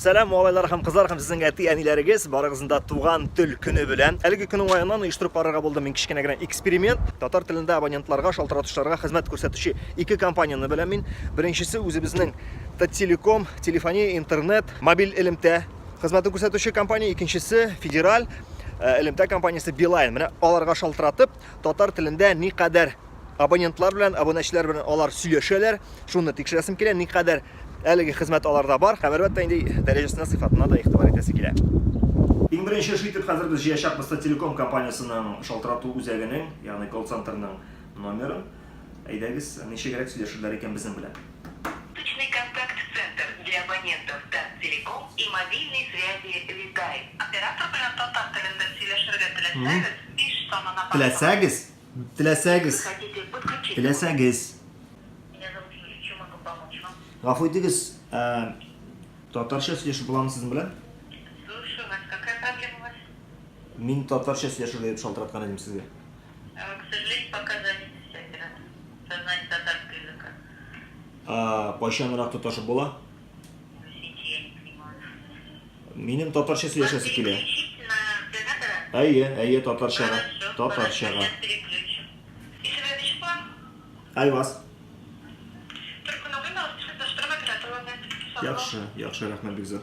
Сәлам малайлар һәм кызлар һәм сезнең әти-әниләрегез, барыгызны да туган тел көне белән. Әлеге көн уңаеннан оештырып карарга булдым мин кечкенә генә эксперимент. Татар телендә абонентларга, шалтыратучыларга хезмәт күрсәтүче ике компанияне беләм мин. Беренчесе үзебезнең Таттелеком, телефония, интернет, мобиль элемтә хезмәтен күрсәтүче компания, икенчесе федераль э, элемтә компаниясе Билайн. Менә аларга шалтыратып, татар телендә никадәр абонентлар белән, абунәчеләр белән алар сөйләшәләр, шуны тикшерәсем килә, никадәр Әлеге хезмәт аларда бар һәм, әлбәттә инде, дәрәҗәсенә, сыйфатына да игътибар итәсе килә. Иң беренче эш итеп хәзер без җыячакбыз Таттелеком компаниясенең шалтырату үзәгенең, ягъни колл-центрның номерын. Әйдәгез, ничегрәк сөйләшерләр икән безнең белән? Личный контакт центр для абонентов Таттелеком и мобильной связи Виталь. Оператор белән татар телендә сөйләшергә теләсәгез, биш санына башвурыгыз. Теләсәгез? Теләсәгез. Теләсәгез. Гафу итегез, ә, татарча сөйләшеп буламы сезнең белән? Слушаю вас. Какая проблема у вас? Мин татарча сөйләшергә дип шалтыраткан идем сезгә. Э, к сожалению, пока занято все операторы. Со знанием татарского языка. А, кайчанрак тоташу була? Минем татарча сөйләшәсе килә. Әйе, әйе, татарчага. Татарчага. Айваз. Яхшы, яхшы, рәхмәт бик зур.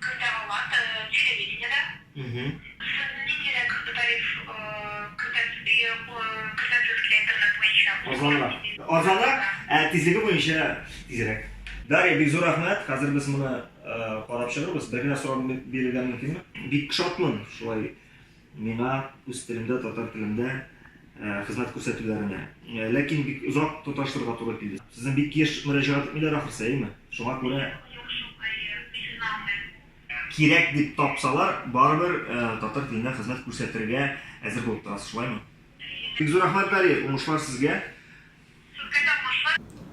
Кертә алар телевидениедә. Сез ниндирәк тариф кертәсез килә интернет буенча? Арзанрак. Арзанрак, ә тизлеге буенча тизрәк. Дарья, бик зур рәхмәт. Хәзер без моны карап чыгырбыз. Бер генә сорау бирергә мөмкинме? Бик шатмын шулай. Миңа үз телемдә, татар телендә хезмәт күрсәтүләренә. Ләкин бик озак тоташтырырга туры килде. Сезне бик еш мөрәҗәгать итмиләр ахрысы, әйеме? Шуңа күрә. Юк, шук, әйе, исен алмыйм. Кирәк дип тапсалар, барыбер татар телендә хезмәт күрсәтергә әзер булып торасыз, шулаймы? Әйе. Бик зур рәхмәт, Дарья, уңышлар сезгә!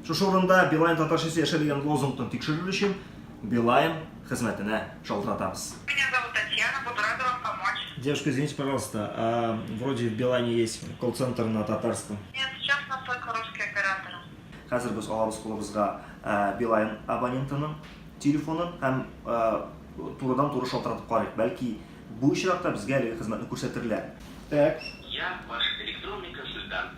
Шушы урында Билайн татарчасы яшәр дигән лозунгны тикшерер өчен Билайн хезмәтенә шалтыратабыз. Меня зовут Татьяна, буду рада вам помочь. Девушка, извините, пожалуйста, а вроде в Билайне есть колл-центр на татарском? Нет, сейчас у нас только русские операторы. Хәзер без алабыз кулыбызга Билайн абонентының телефонын һәм турыдан-туры шалтыратып карыйк, бәлки бу очракта безгә әлеге хезмәтне күрсәтерләр. Так. Я ваш электронный консультант.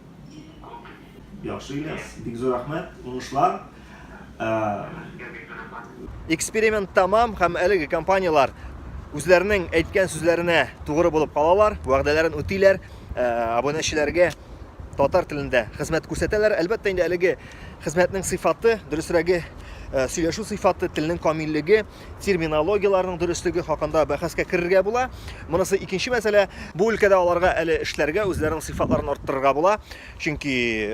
Яхшы Ильяс, бик зур рәхмәт, уңышлар. Эксперимент тамам һәм әлеге компанияләр үзләренең әйткән сүзләренә тугры булып калалар, вәгъдәләрен үтиләр, э, абунәчеләргә татар телендә хезмәт күрсәтәләр. Әлбәттә инде әлеге хезмәтнең сыйфаты, дөресрәге, э, сөйләшү сыйфаты, телнең камиллеге терминологияләрнең дөреслеге хакында бәхәскә керергә була. Монысы икенче мәсьәлә. Бу өлкәдә аларга әле эшләргә, үзләренең сыйфатларын арттырырга була. Чөнки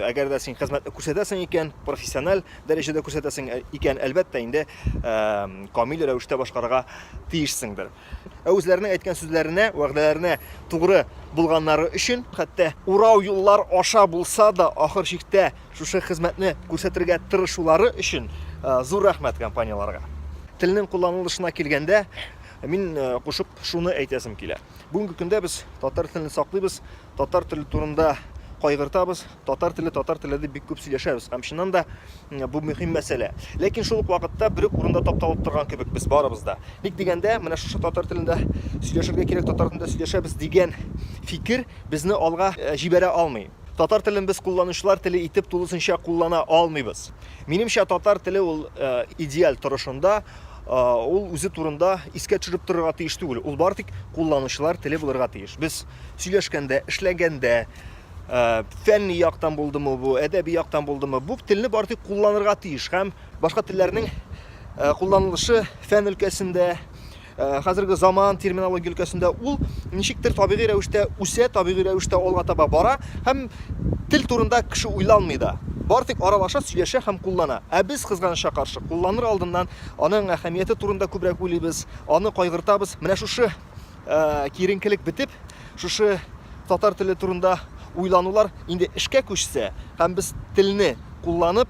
әгәр дә син хезмәтне күрсәтәсең икән, профессиональ дәрәҗәдә күрсәтәсең э, икән, әлбәттә инде камил рәвештә башкарырга тиешсеңдер. Ә үзләренең әйткән сүзләренә, вәгъдәләренә тугры булганнары өчен, хәтта урау юллар аша булса да, ахыр чиктә Шушы хезмәтне күрсәтергә тырышулары өчен зур рәхмәт компанияләргә. Телнең кулланылышына килгәндә, мин кушып шуны әйтәсем килә. Бүгенге көндә без татар телен саклыйбыз, татар теле турында кайгыртабыз, татар теле, татар теле дип бик күп сөйләшәбез. Һәм чыннан да бу мөһим мәсьәлә. Ләкин шул ук вакытта бер үк урында тапталып торган кебек без барыбыз да. Ник дигәндә, менә шушы татар телендә сөйләшергә кирәк, татар телендә сөйләшәбез дигән фикер безне алга җибәрә алмый. Татар телен без кулланучылар теле итеп тулысынча куллана алмыйбыз. Минемчә, татар теле ул э, идеаль торышында, э, ул үзе турында искә төшереп торырга тиеш түгел. Ул бары тик кулланучылар теле булырга тиеш. Без сөйләшкәндә, эшләгәндә, э, фәнни яктан булдымы бу, әдәби яктан булдымы, бу телне бары тик кулланырга тиеш һәм башка телләрнең кулланылышы фән өлкәсендә, Э, хәзерге заман терминология өлкәсендә ул ничектер табигый рәвештә үсә, табигый рәвештә алга таба бара һәм тел турында кеше уйланмый да. Бар тик аралаша, сөйләшә һәм куллана. Ә без кызганычка каршы кулланыр алдыннан аның әһәмияте турында күбрәк уйлыйбыз, аны кайгыртабыз. Менә шушы э, киеренкелек бетеп, шушы татар теле турында уйланулар инде эшкә күчсә һәм без телне кулланып,